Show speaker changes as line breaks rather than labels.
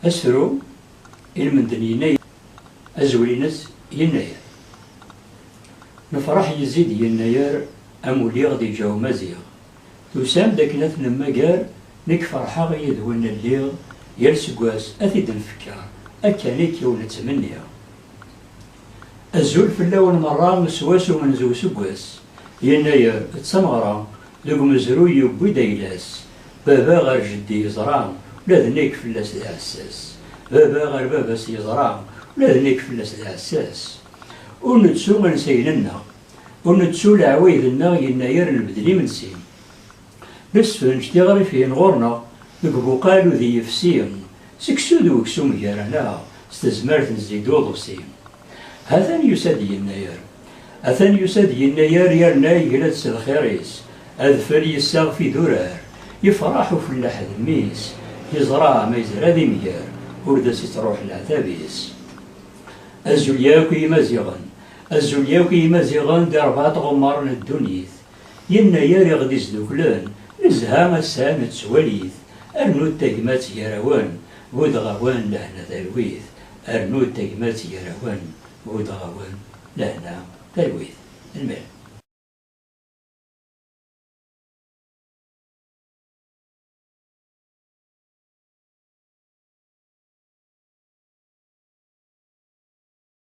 Asru ilmend n yennayer azwel-ines yennayer lefraḥ yezzi-d yennayer am uliɣ di lǧaw maziɣ. Tusam-d akken ad t-nemmager, nekk ferḥeɣ yid-wen lliɣ, yal seg wass ad t-id-nfekkeṛ, akka nekk i wen-ttmenniɣ. Azul fell-awen meṛṛa s wass umenzu useggas, yennayer, d tameɣra, deg umezruy yewwi-d ayla-s, baba ɣer jeddi yeẓra, ula d nekk fell-as d aɛessas, baba ɣer baba-s yeẓra, ula d nekk fell-as d aɛessas. Ur nettu ansayen-nneɣ. Ur nettu leɛwayed-nneɣ yennayer nbeddel imensi. Nessefrenc-d iɣrifin ɣur-neɣ deg ubuqal udi yefsi, seksu d weksum gar-aneɣ s tezmert n zid uḍebsi. Hatan yusa-d yennayer. Atan yusa-d yennayer yerna yegra-d s lxir-is, adfel yessaɣef idurar, yefreḥ ufellaḥ d mmi-s, yeẓra ma yezra d imger ur d as-ittruḥ leɛtab-is. Azul yakk i yimaziɣen. Azul yakk i yimaziɣen di rebɛa tɣemmar n ddunit, yennayer i ɣ-d-isduklen, nezha ass-a nettwali-t, rnu-d tagmat gar-awen, buddeɣ-awen lehna talwit, rnu-d tagmat gar-awen, buddeɣ-awen lehna talwit. Lmirem.